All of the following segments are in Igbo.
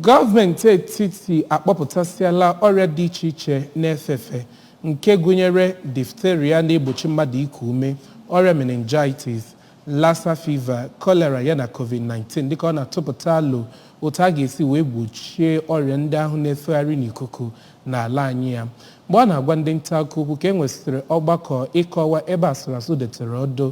Gọọmenti etiti akpọpụtasịala ọrịa dị iche iche na-efe efe nke gụnyere diphtheria na-egbochi mmadụ iku ume, ọrịa meningitis, Lassa fever, cholera yana Covid-19 dịka ọ na-atụpụta alo otu a ga-esi wee gbochie ọrịa ndị ahụ na-efegharị n'ikuku n'ala anyị a. Mgbe ọ na-agwa ndị ntaakụkọ okwu ka e nwesịrị ọgbakọ ịkọwa ebe asụrasụ detere ọdụ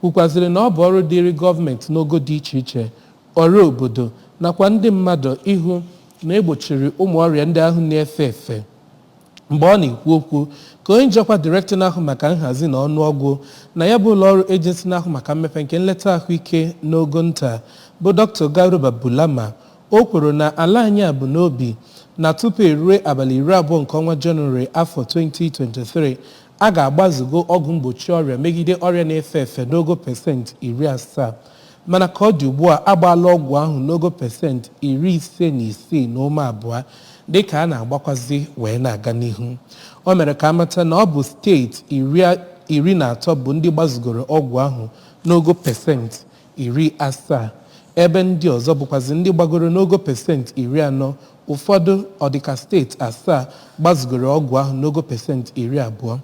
kwukwaziri na ọ bụ ọrụ dịịrị gọọmenti n'ogo dị iche iche, ọra obodo nakwa ndị mmadụ ịhụ na e gbochiri ụmụ ọrịa ndị ahụ na-efe efe. Mgbe ọ na-ekwu okwu ka onye ji ọkwa Direktọ na-ahụ maka nhazi na ọnụọgụ na ya bụ ụlọọrụ Ejensi na-ahụ maka mmepe nke nleta ahụike n'ogo nta bụ Dr. Garuba Bulama, o kwuru na ala anyị a bu n'obi na tupu e rue abalị iri abụọ nke ọnwa Jenụwarị afọ 2023, A ga-agbazugo ọgwụ mgbochi ọrịa megide ọrịa na-efe efe n'ogo pesent iri asaa, mana ka ọ dị ugbu a, a gbaala ọgwụ ahụ n'ogo pesent iri ise na isii na ụma abụọ dịka a na-agbakwazi wee na-aga n'ihu. O mere ka a mata na ọ bụ steeti iri iri na atọ bụ ndị gbazugoro ọgwụ ahụ n'ogo pesent iri asaa, ebe ndị ọzọ bụkwazị ndị gbagoro n'ogo pesenti iri anọ, ụfọdụ, ọ dị ka steeti asaa, gbazugoro ọgwụ ahụ n'ogo pesenti iri abụọ.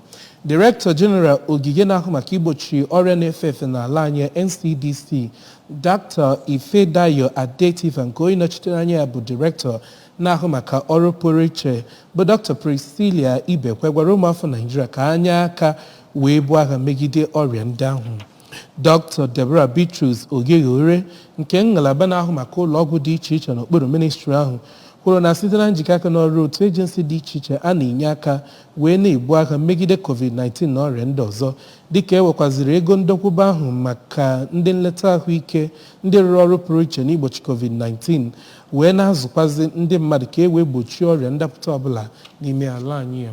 Director General Ogige na-ahụ maka igbochi ọrịa na-efe efe n'ala anyị, NCDC, Doctor Ifedayo Adetifa nke onye nọchitere anya ya bụ Director na-ahụ maka ọrụ pụrụ iche bụ Doctor Priscilla Ibekwe gwara ụmụafọ Naịjirịa ka ha nye aka wee buo agha megide ọrịa ndị ahụ. Dr. Deborah Bitrus Oghoghorie nke ngalaba na-ahụ maka ụlọ ọgwụ dị iche iche n'okpuru ministri ahụ kwuru na site na njikọ aka n'ọrụ otu ejensi dị iche iche a na-enye aka wee na-ebu agha megide COVID-19 na ọrịa ndị ọzọ dịka e wekwaziri ego ndokwuba ahụ maka ndị nleta ahụike ndị rụrụ ọrụ pụrụ iche n'igbochi COVID-19 wee na-azụkwazi ndị mmadụ ka e wee gbochie ọrịa ndapụta ọbụla n'ime ala anyị a